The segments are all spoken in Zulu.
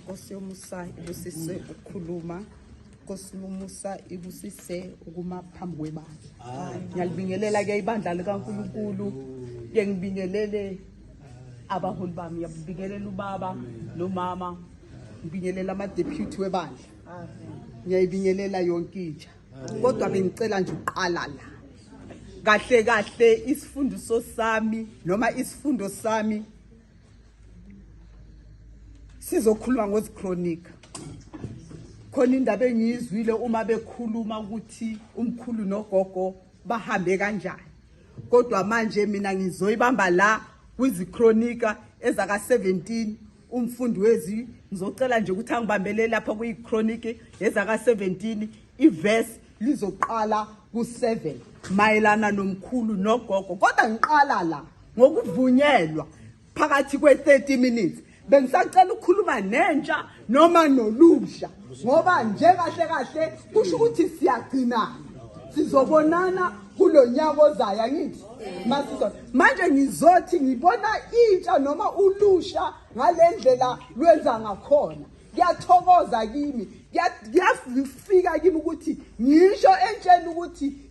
Nkosi yomusa ibusise ukukhuluma Nkosi yomusa ibusise ukuma phambi kwebandla ngiyalibingelela ke ibandla likaNkuluNkulu ke ngibingelele abaholi bami ngiyabingelela ubaba nomama ngibingelela ama deputy webandla ngiyayibingelela yonke intsha kodwa bengicela nje uqala la kahle kahle isifundiso sami noma isifundo sami sizokhuluma ngozichronika khona indaba engiyizwile uma bekhuluma ukuthi umkhulu nogogo bahambe kanjani kodwa manje mina ngizoyibamba la kwizichronika ezaka 17 umfundi wezi ngizocela nje ukuthi angibambele lapha kuyichronika ezaka 17 iverse lizoqala ku7 mayelana nomkhulu nogogo kodwa ngiqala la ngokuvunyelwa phakathi kwe-30 minutes bengisacela ukukhuluma nentsha noma nolusha ngoba njekahle kahle kusho ukuthi siyagcinana sizobonana kulo nyaka ozayo angithi masizona manje ngizothi ngibona intsha noma ulusha ngale ndlela lwenza ngakhona kuyathokoza kimi kuyafika kimi ukuthi ngisho entsheni ukuthi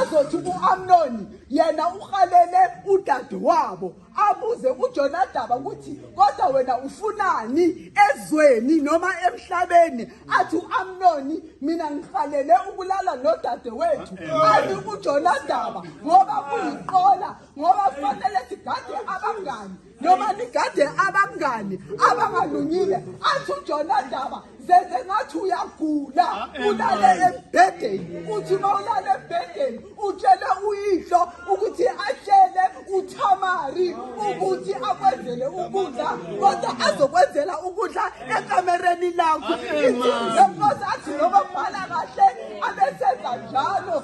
Azothi uAmnoni yena uhalele udadewabo abuze uJonadaba ukuthi kodwa wena ufunani ezweni noma emhlabeni athi uAmnoni mina ngihalele ukulala nodadewethu athi uJonadaba ngoba kuyiqola ngoba kufanele sigade abangani noma nigade abangani abangalungile athi ujona ndaba zenze ngathi uyagula ah, eh, ulale embhedeni uthi uma ulale embhedeni utshele uyihlo ukuthi atshele uthamari ukuthi akwenzele ukudla kodwa azokwenzela ukudla ekamereni lakho ah, eh, izinto athi lokobhala kahle abesenza njalo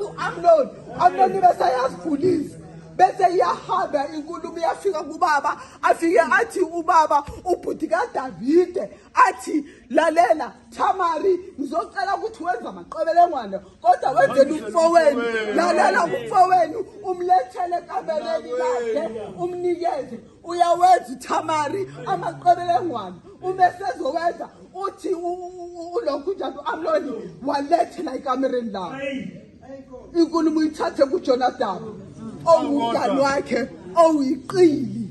uamnoni amnoni besayazifundisa bese iyahamba inkulumo iyafika kubaba afike athi ubaba ubhuti kadavide athi lalela thamari ngizocela ukuthi wenza amaqebelengwane kodwa wenzela umfowenu lalela umfowenu umlethele ekameleni lakhe umnikeze uyawenza uthamari amaqebelengwane uma sezowenza uthi ulokhu njalo amloni walethela ekamereni lawo inkulumo uyithathe kujonathan owumngani wakhe owuyiqili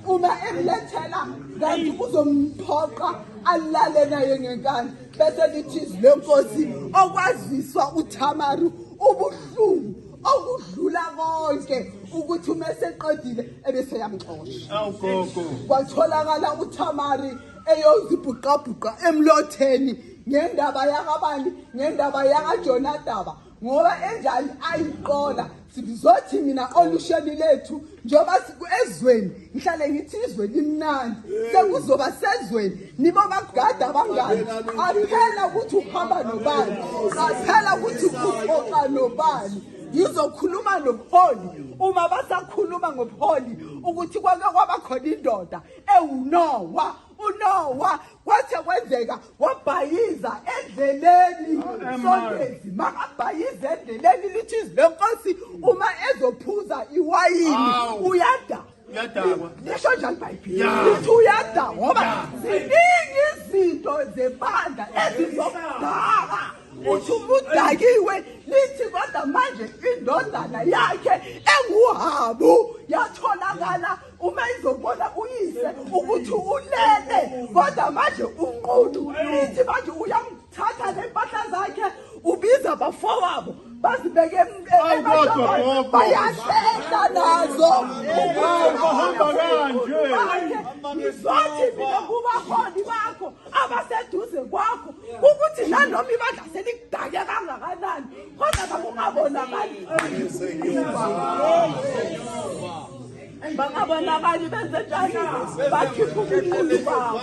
uma emlethela kanti uzomphoqa alale naye ngenkani bese lithi izwi lenkosi okwaziswa uthamaru ubuhlungu okudlula konke ukuthi uma eseqedile ebeseyamxosha awugogo kwatholakala uthamari eyozibhuqabhuqa emlotheni ngendaba yakabani ngendaba yakajonadaba ngoba enjani ayiqola sizothi mina olusheni lethu njengoba ezweni ngihlale ngithi izwe limnandi sekuzoba sezweni nibo bagada abangani aphela ukuthi uhamba nobani aphela ukuthi uxoxa nobani ngizokhuluma nobuholi uma basakhuluma ngobuholi ukuthi kwake kwabakhona indoda ewunowa unowa kwathe kwenzeka wabhayiza endleleni sontezi makabhayiza endleleni lithi izwi lenkosi uma ezophuza iwayini uyada uyadakwa lisho njani ibhayibheli lithi uyada ngoba ziningi izinto zebandla ezizokudaka uthi umudakiwe lithi kodwa manje indodana yakhe enguhabu yatholakala uma izobona uyise ukuthi ulele kodwa manje unqudu ithi manje uyamthatha nempahla zakhe ubiza abafowabo bazibeke bayahlehla nazo bahamba kanje ngizothi mina kubaholi bakho abaseduze kwakho ukuthi nanoma ibandla selikudake kangakanani kodwa kakungabonakali bangabonakali benze njani bakhipha ubuqulu babo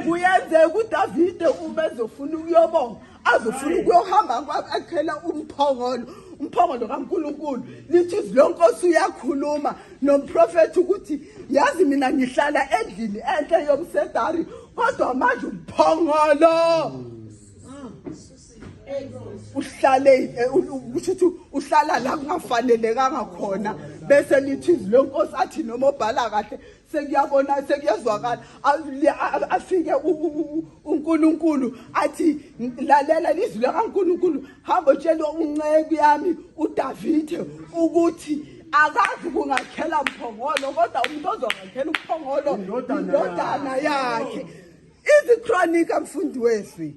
kuyenzeka udavide uma ezofuna ukuyobonga azofuna ukuyohamba kwakhela umphongolo umphongolo kaNkuluNkulu lithi izwi lonkosi uyakhuluma nomprofeti ukuthi yazi mina ngihlala endlini enhle yomsedari kodwa manje umphongolo uhlale eh, kusho ukuthi uhlala la kungafanelekanga khona bese lithi izwi lenkosi athi noma obhala kahle sekuyabona sekuyezwakala afike uNkulunkulu athi lalela izwi likaNkulunkulu hamba utshela unceku yami uDavide ukuthi akazi kungakhela mphongolo kodwa umuntu ozongakhela umphongolo indodana yakhe izichronika mfundi weswi